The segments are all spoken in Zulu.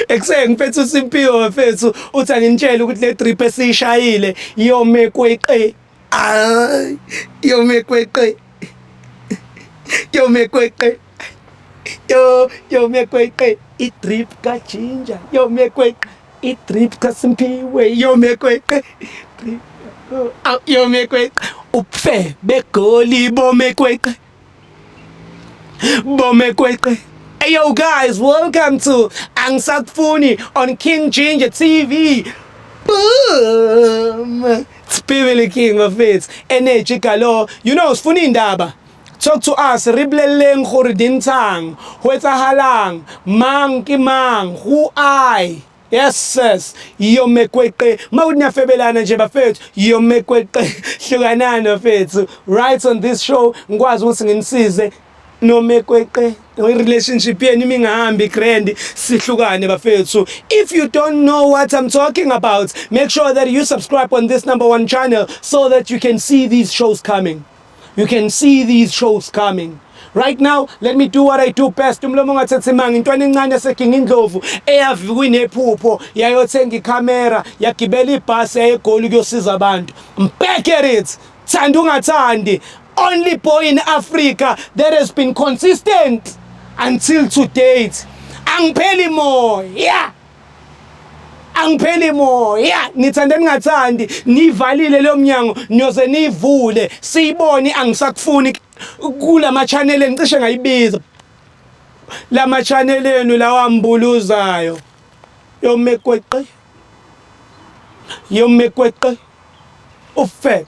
Ekuseni ngiphethe uSimpiwe wefethu uthi anginitshele ukuthi le drip esiyishayile yome kweqe. Ay, yome kweqe. Yome kweqe. Yo, yome kweqe. I drip ka ginger, yome kweqe. I drip ka Simpiwe, yome kweqe. Drip. Yome kweqe. Upfe begoli bome kweqe. Bomekweqe. Hey yo guys, welcome to Angisakufuni on King Ginger TV. Boom! Spively King bafethu. Energy galo. You know sifuna indaba. Talk to us, re blelleng gore dintshang, ho etsahalang, mang ke mang, who I. Yes sis, yome kweqe. Mawuthi niyafebelana nje bafethu, yome kweqe. Hlukanani bafethu. Right on this show ngikwazi ukuthi ngimsize nome kweqe relationship yenu imingahambi grand sihlukane bafethu if you don't know what i'm talking about make sure that you subscribe on this number one channel so that you can see these shows coming You can see these shows coming. Right now, let me do what I do best. Umlomo ungathethe manga intwana encane eseginga indlovu eyavi kunephupho yayothenga ikhamera yagibela ibhasi yayegoli kuyosiza abantu. I'm back at it. Thanda ungathandi. Only boy in Africa that has been consistent until to date. Angipheli moya. Yeah. angipheli moya nithande ningathandi nivalile leyo mnyango niyoze niyivule siyibone angisakufuni kulama channel engicishe ngayibiza lama channel enu lawa mbuluzayo yomekweqe yomekweqe ufe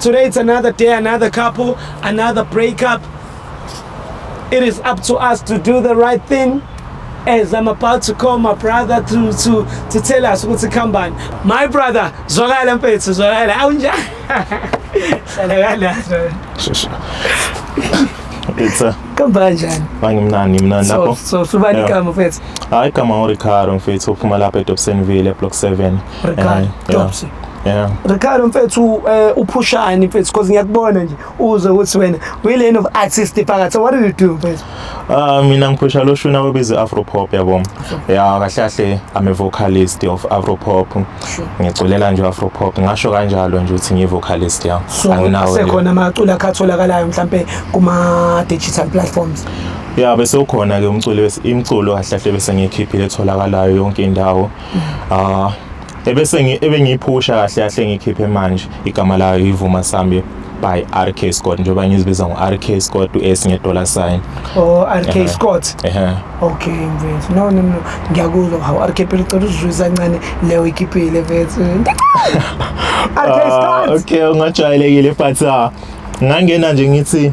Today it's another day, another couple, another breakup. It is up to us to do the right thing. As I'm about to call my brother to to to tell us what's come on. My brother, zwakala mfethu, zwakala. Awunjani? Hlala kala. It's a Kamba kanjani? Angimnani ngimnani lapho. So so subani igama mfethu. Hayi igama uRicardo mfethu uphuma lapha eDobsonville eBlock 7. Ricardo Topsy Yeah. Ricardo mfethu eh uphushani mfethu because ngiyakubona nje uze ukuthi wena uyilane of artist phakathi so what do you do mfethu Ah mina ngiphusha lo shuna obiza Afro pop yabo. Yeah kahle kahle I'm a vocalist of Afro pop. Ngiculela nje Afro pop ngasho kanjalo nje ukuthi ngi vocalist ya. so Anginawo. sekhona amaculo akhatholakalayo mhlambe kuma digital platforms Yeah bese ukhona ke umculo wes- imculo kahle kahle bese ngiyikhiphile etholakalayo yonke indawo. Ah ebese ngi ebengiphusha kahle kahle ngikhiphe manje igama layo ivuma sambi by RK Scott njengoba ngizibiza ngo RK Scott uS nge dollar sign Oh RK Ehe. Scott. ehe Okay mfethu. No no no. Ngiyakuzwa hawu RK phela ucela uzizwisa kancane leyo ikipile mfethu. RK Ah, Scott. okay ungajwayelekile but ah, ngangena nje ngithi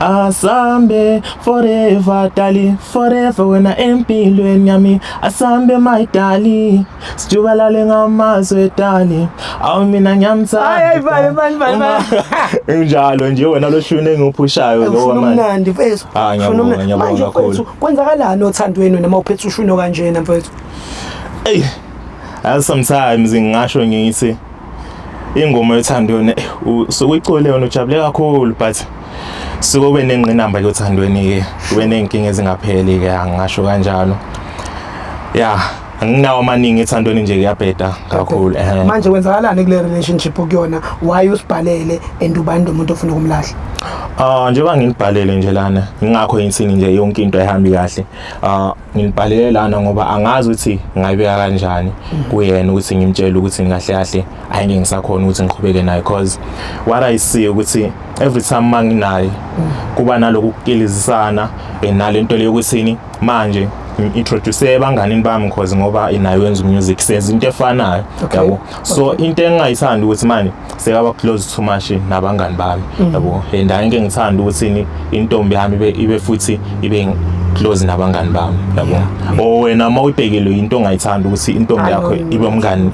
Asambe forever dali forever wena empilweni yami asambe my dali sijubalale ngamazwe dali awu mina ngiyamthanda unjalo nje wena loshuni engiphushayo lo wamanje umnandi mfethu ah ngiyabonga ngiyabonga kakhulu kwenzakalani othandweni noma uphethe ushuno kanjena mfethu hey sometimes ngingasho ngithi ingoma yothando yona eh, usuke uyicole yona ujabule kakhulu but suke ube nengqinamba ke othandweni ke ube nenkinga ezingapheli ke angasho kanjalo ya anginawo amaningi ethandweni nje kuyabheda kakhulu eh manje kwenzakalani kule relationship kuyona why usibhalele and ubani umuntu ofuna ukumlahla ah njengoba nginibhalele nje lana ngingakho yintsini nje yonke into ehambi kahle ah ngilibhalele lana ngoba angazi ukuthi ngayibeka kanjani kuyena ukuthi ngimtshele ukuthi ngahle kahle ayike ngisakhona ukuthi ngiqhubeke naye because what i see ukuthi every time manginaye kuba naloku kukilizisana enalento leyo ukuthi manje introduce ebanganini bami because ngoba inayo yenza music senza into efanayo yabo so into engingayithanda ukuthi manje sekaba close too much nabangani bami mm. yabo and angike ngithanda ukuthi intombi yami ibe ibe futhi ibe close nabangani bami yabo o wena uma uyibhekile into ongayithanda ukuthi intombi yakho ibe umngani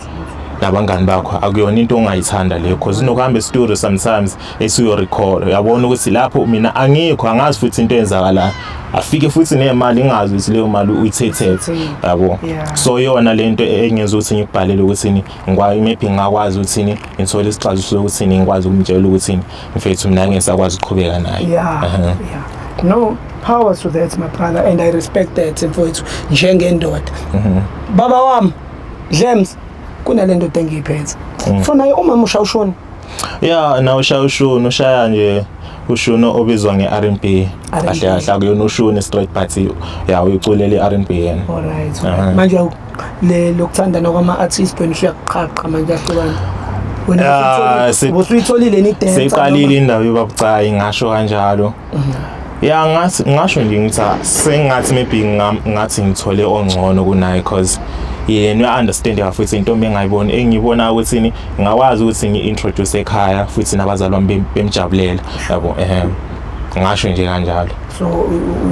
nabangani bakho akuyona into ongayithanda leyo because unokuhamba estudio sometimes esuyo record uyabona ukuthi lapho mina angikho angazi futhi into eyenzakalayo afike futhi nemali ingazi ukuthi leyo mali uyithethethe yabo so yona lento engenza ukuthi ngikubhalele ukuthi ngikwayo imephi ngingakwazi ukuthini ngithole isixazululo sokuthini ngikwazi ukumtshela ukuthini mfethu mina ngeke ngisakwazi ukuqhubeka naye yeah, uh -huh. yeah. no power to that my brother and i respect that mfowethu njengendoda mm -hmm. baba wami dlems kunale ndoda engiyiphethe mm. funa umama ushawushona ya na ushaya ushuni ushaya nje ushuni obizwa nge-R&B kahle kahle akuyona ushuni straight but ya uyiculele i-R&B yena alright uh-huh. manje le lokuthandana kwama-artist wena usuyakuqhaqa manje ahlukana ah, siyitholile ni dance siqalile indaba yobabucayi ngasho kanjalo ya ngathi ngasho nje ngithi ah, sengathi maybe ngathi ngithole ongcono kunaye cause yena uya-understand ka futhi intombi engayiboni engiyibona ukuthi ni ngakwazi ukuthi ngi-introduce ekhaya futhi nabazali bami bemjabulela yabo um ngasho nje kanjalo so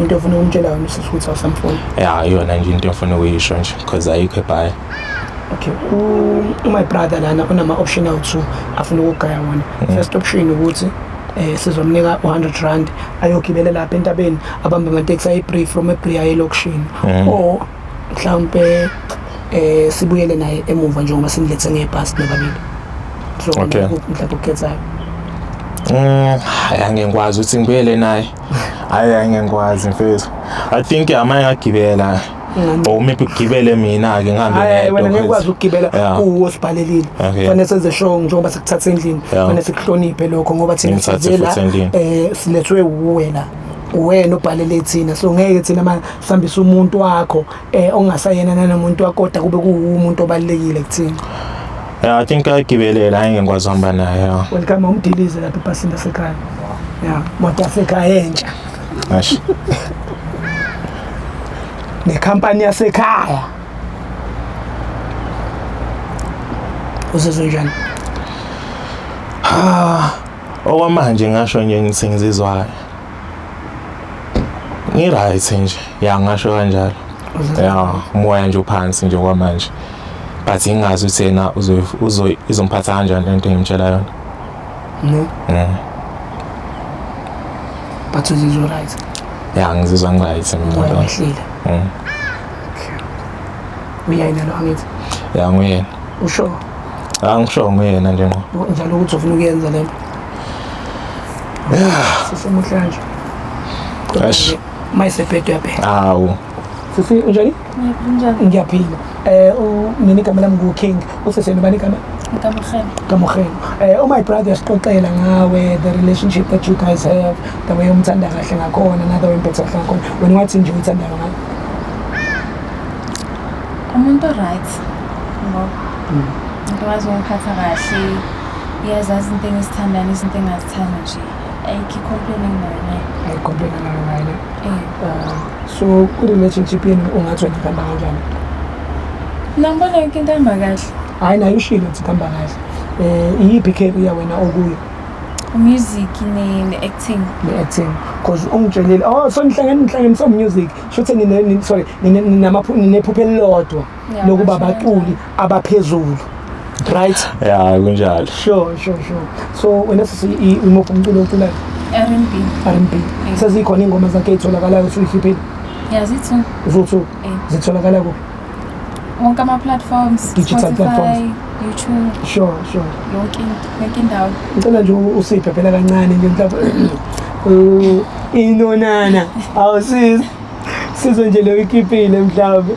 into ofuna ukumtshela yona usisi ukuthi awusamfuni ya iyona nje into ofuna ukuyisho nje because ayikho ebhaya okay u-my brother lana unama-option awu-two afuna ukugaya wona mm. first option ukuthi eh sizomnika u100 rand ayogibela lapha entabeni abambe ama taxi ayi brief from ebri ayi lokushini mhm. o mhlawumbe eh sibuyele naye emuva njengoba simlethe ngebhasi nababili so okay. mhlawumbe ukukhethayo Mm, hayi angengikwazi ukuthi ngibuyele naye. Hayi angengikwazi mfethu. I think amanye ngagibela. or oh, maybe ugibele mina ke ngihambe ngedwa wena ngeke ukwazi ukugibela kuwo sibhalelile fanele senze show njengoba sikuthatha endlini fanele sikuhloniphe lokho ngoba thina sizela eh silethwe uwena wena ubhalele thina so ngeke thina manje sihambisa umuntu wakho eh ongasayena nanomuntu wakho kodwa kube kuwumuntu obalekile kuthina Yeah, I think I give it a line and was on by now. Welcome home, Dilly, the people in the Sekai. Yeah, what the Sekai, yeah. Ash. Nekhampani yasekhaya. Uzizwa njani? Ha. Okwamanje ngasho nje ngithi ngizizwa kahle. Ngi right nje. Ya ngasho kanjalo. Ya, moya nje uphansi nje kwamanje. But ingazi uthena uzo izomphatha kanjani lento engimtshela yona. No. Yeah. But uzizwa right. Yeah, ngizizwa ngiryt mina. Wehlile. Mm. Okay. Uyayena lo angithi? Yeah, nguyena. Usho? Ah, ngisho nguyena nje ngqo. Njalo ukuthi ufuna ukuyenza lento. Yeah. Sisemuhlanje. Ash. Mayisebhedo yaphe. Awu. Sisi unjani? Ngiyaphila. Ngiyaphila. Eh mina igama lami ngu King. Useseni bani igama? Kamukhela. Kamukhela. Eh oh my brother sixoxela ngawe the relationship that you guys have, the way umthanda kahle ngakhona, na the way umphethe kahle ngakhona. Wena wathi nje uthanda ngawe. Umuntu right. Ngo. Mm. Umuntu wazi ungiphatha kahle. Uyazazi into engisithandayo, izinto engazithanda nje. Eh, ke complain ngayo naye. Ay complain ngayo naye. Eh. Uh, so ku relationship yenu ungathi wena kamba kanjani? Nambona yonke into ihamba kahle. Hayi nayo ushilo ukuthi kamba kahle. Eh iyiphi career wena okuyo? music ne, ne acting ne acting because ungitshelile oh so nihlangene nihlangene so music shuthi nine sorry nine nine namaphupho nine phupho elilodwa lokuba baculi abaphezulu right ya kunjalo sure sure sure so wena sisi imuphi umculo oculayo R&B R&B sezikhona ingoma zakhe ezitholakalayo usuyikhiphile yazithu zithu eh. zitholakala kuphi wonke ama platforms digital platforms YouTube sure sure yonke yonke indawo ngicela nje usiphe phela kancane nje mhlawumbe uh, inonana awusiza sizwe nje leyo ikipile mhlawumbe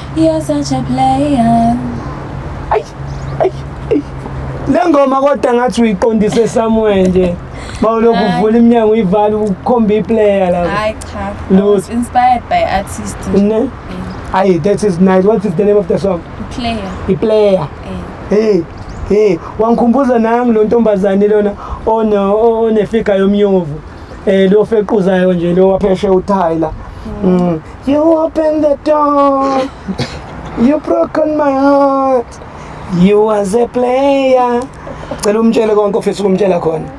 You're such a player. Ay, ay, ay. Le ngoma kodwa ngathi uyiqondise somewhere nje. Bawulokhu Hayi. uvula iminyango uyivala ukhomba iplayer la. Hayi cha. I Lutho. was inspired by artist. Ne? Eh, Ay, that is nice. What is the name of the song? Player. Iplayer. Eh. Hey, hey, wangikhumbuza nami lo ntombazane lona one onefiga yomnyovu. Eh lo fequzayo nje lo wapheshe uThayla. Mm. You open the door. You broken my heart. You was a player. Cela umtshele konke ofisa ukumtshela khona.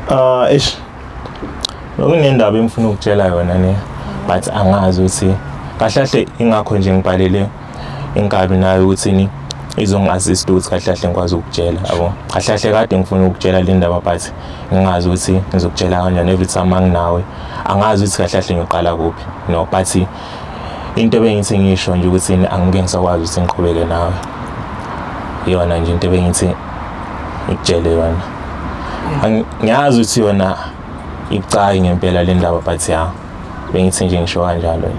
Ah, ish. Nokunendaba engifuna ukutshela yona ne. But angazi ukuthi kahle kahle ingakho nje ngibhalele inkabi nayo ukuthini izongi-assist ukuthi kahle kahle ngikwazi ukutshela yabo kahle kahle kade ngifuna ukutshela le ndaba but ngingazi ukuthi ngizokutshela kanjani every time anginawe angazi ukuthi kahle kahle ngiyoqala kuphi no but into ebengithi ngisho nje ukuthi angike ngisakwazi ukuthi ngiqhubeke nawe iyona nje into ebengithi ngikutshele yona ngiyazi ukuthi yona ibucayi ngempela le ndaba but ya bengithi nje ngisho kanjalo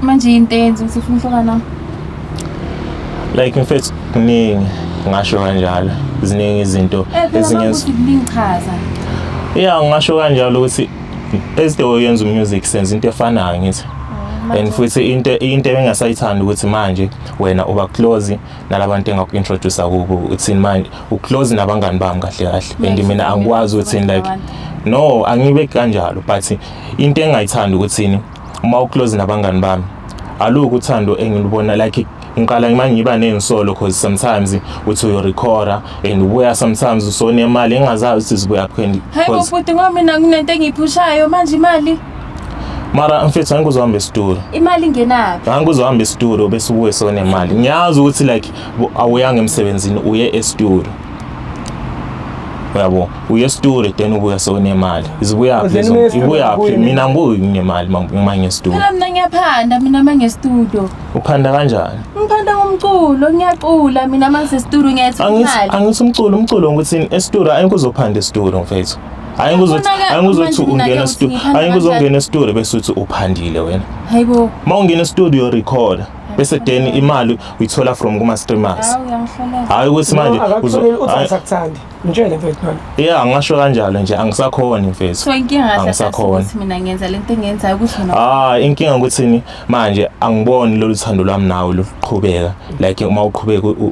manje yinto eyenza ukuthi ufuna ukuhlukana nami like mfethu kuningi ngasho kanjalo ziningi izinto eh, ezingenza kuningichaza yeah ngasho kanjalo ukuthi as the way yenza umusic senze into efanayo ngithi oh, and futhi into into engasayithanda ukuthi manje wena uba close nalabantu engaku-introduce kubo uthini manje uclose nabangani bami kahle kahle and mina angikwazi ukuthini like no angibe kanjalo but into engayithanda ukuthini uma uclose nabangani bami aluku uthando engilubona like ngiqala ngima ngiba nezinsolo because sometimes uthi uyorecorda and ubuya sometimes usone imali engazazi ukuthi zibuya kuphi hayi bhuti ngoba mina kunento engiyiphushayo manje imali mara mfethu angike uzohamba esitolo imali ingenaphi angike uzohamba esitolo bese ubuye sonemali ngiyazi ukuthi like awuyanga emsebenzini uye esitolo uyabo uye esitolo then ubuya sewunemali izibuyaphi ibuyaphi mina ngibuyi nginemali uma ngesitolo phela mina ngiyaphanda mina uma ngesitolo uphanda kanjani ngiphanda ngomculo ngiyacula mina uma ngisesitolo ngiyayithola imali angithi umculo umculo ngikuthini esitolo ayikho uzophanda esitolo mfethu Hayi ngizothi hayi ngizothi ungena studio. Hayi ngizongena studio bese uthi uphandile wena. Hayibo. Uma ungena studio record bese then imali uyithola from kuma streamers. Hayi ukuthi manje uzokuthanda. Ngitshele mfethu nami. Yeah ngasho kanjalo nje angisakhona mfethu. So inkinga angisakhona. Mina ngenza lento engenzayo ukuthi wena. Ah inkinga ukuthi manje angiboni lolu thando lwami nawe luqhubeka like uma uqhubeka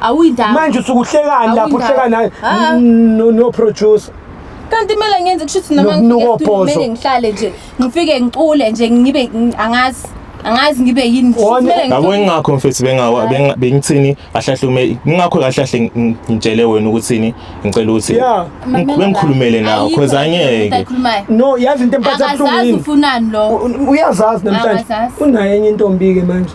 awuyindaba manje usukuhlekani lapho Awuyindaba. uhleka naye Ah. n- no- no producer kanti kumele ngenze kusho ukuthi noma Nokunuka ngifika studio ophozo. kumele ngihlale nje ngifike ngicule nje ngibe ng- angazi angazi ngibe yini Kusho ukuthi Wona- kumele yabo ngicule. ingakho mfethu bengawa benga- bengithini ahlahlume ingakho kahle kahle ng- ngitshele wena ukuthini ngicela ukuthi Yeah. ng- bengikhulumele nawe Ayikho cause into angeke ayikhulumayo. no yazi into emphatha akazazi buhlungu ufunani lo yini uyazazi namhlanje Akazazi. unayo enye intombi-ke manje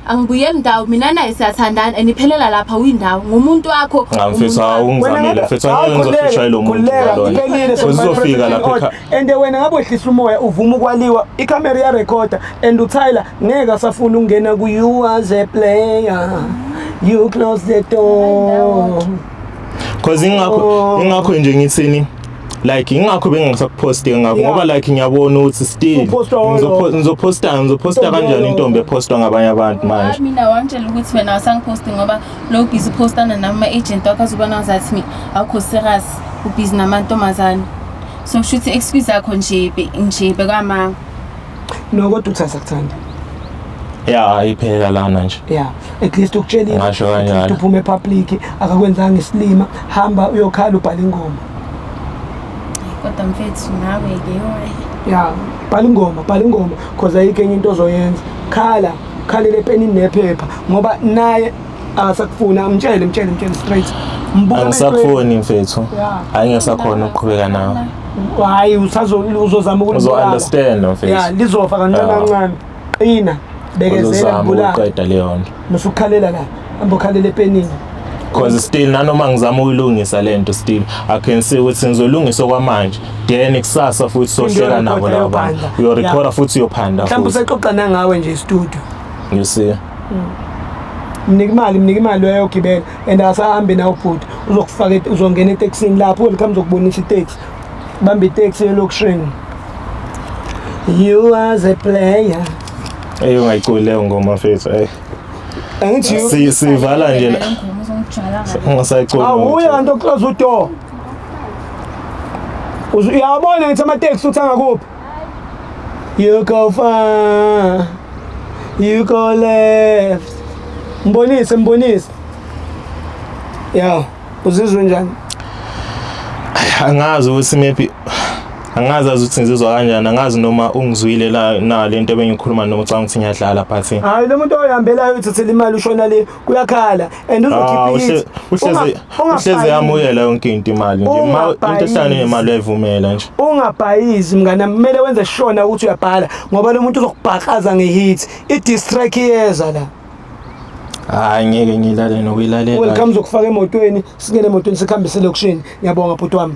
Angibuyeli ndawo mina naye siyathandana and iphelela lapha windawo ngumuntu wakho. Cha mfethu hawu ungizamile mfethu angeke ngizoshaya lo muntu kuleka lona. iphelile Futhi uzofika lapha sekufanele ekha- and wena ngabe wehlisa umoya uvuma ukwaliwa ikhamera iyarekhoda and utyler ngeke asafuna ukungena ku-you as a player you close the door Cause ingakho ingakho nje ngithini like ingakho bengingasakuphosti ngakho ngoba like ngiyabona ukuthi still ngizophosta ngizophosta kanjani intombi ephostwa ngabanye abantu manje mina wangitshela ukuthi wena awusangiphosti ngoba lo busy postana nama agent wakho azobona ngazathi mina awukho serious ubusy namantombazane so kusho ukuthi excuse yakho nje nje bekwamanga no kodwa uthi asakuthandi ya iphelela lana nje ya at least ukutshelile Ngasho kanjalo. ukuthi uphume epublic akakwenzanga isilima hamba uyokhala ubhala ingoma kodwa mfethu nawe-ke yoe ya bhala ingoma bhala ingoma cause ayikho enye into ozoyenza khala khalele epenini nephepha ngoba naye asakufuni ah, amtshele mtshele mtshele straight angisakufuni mfethu hayi ngisakhona ukuqhubeka nawe hayi uzozama ukuzounderstand mfethu ya lizofa kancane kancane qina bekezela ukuqeda leyo nto musukhalela la hamba ukhalela epenini because still nanoma ngizama ukuyilungisa lento still i can see ukuthi ngizolungisa kwamanje then kusasa futhi sohleka nabo labo bantu uyorecorda futhi uyophanda mhlawumbe usexoxa nangawe nje studio you see mnika imali mnika imali uyayogibela and asahambe nawo bhuti uzokufaka uzongena etekisini lapho welcome zokubonisa iteksi bamba iteksi elokishini you as a player eyo ngayiculi leyo ngoma fethu eyi angithi sivala nje la ungasayiculi awuye kanti oclose udoor uyabona ngithi amateksi uthi angakuphi You go far, you go left. Mbonise, mbonise. Ya, uzizwe njani? Angazi ukuthi maybe angazi ukuthi ngizizwa kanjani angazi noma ungizwile la na lento ebengikhuluma noma ucanga ukuthi ngiyadlala but hayi lo muntu oyihambelayo uthathela imali ushona le kuyakhala and Ah, uzokhipha ushe- ithi uhleze uhleze yamuyela yonke into imali nje uma into Ungabhayisi. ehlane nemali uyayivumela nje ungabhayizi mngana kumele wenze shona ukuthi uyabhala ngoba lo muntu uzokubhakaza ngehit i-distrack iyeza la hayi ngeke ngilale nokuyilalela welcome uzokufaka emotweni singene emotweni sikuhambise elokishini ngiyabonga bhuti wami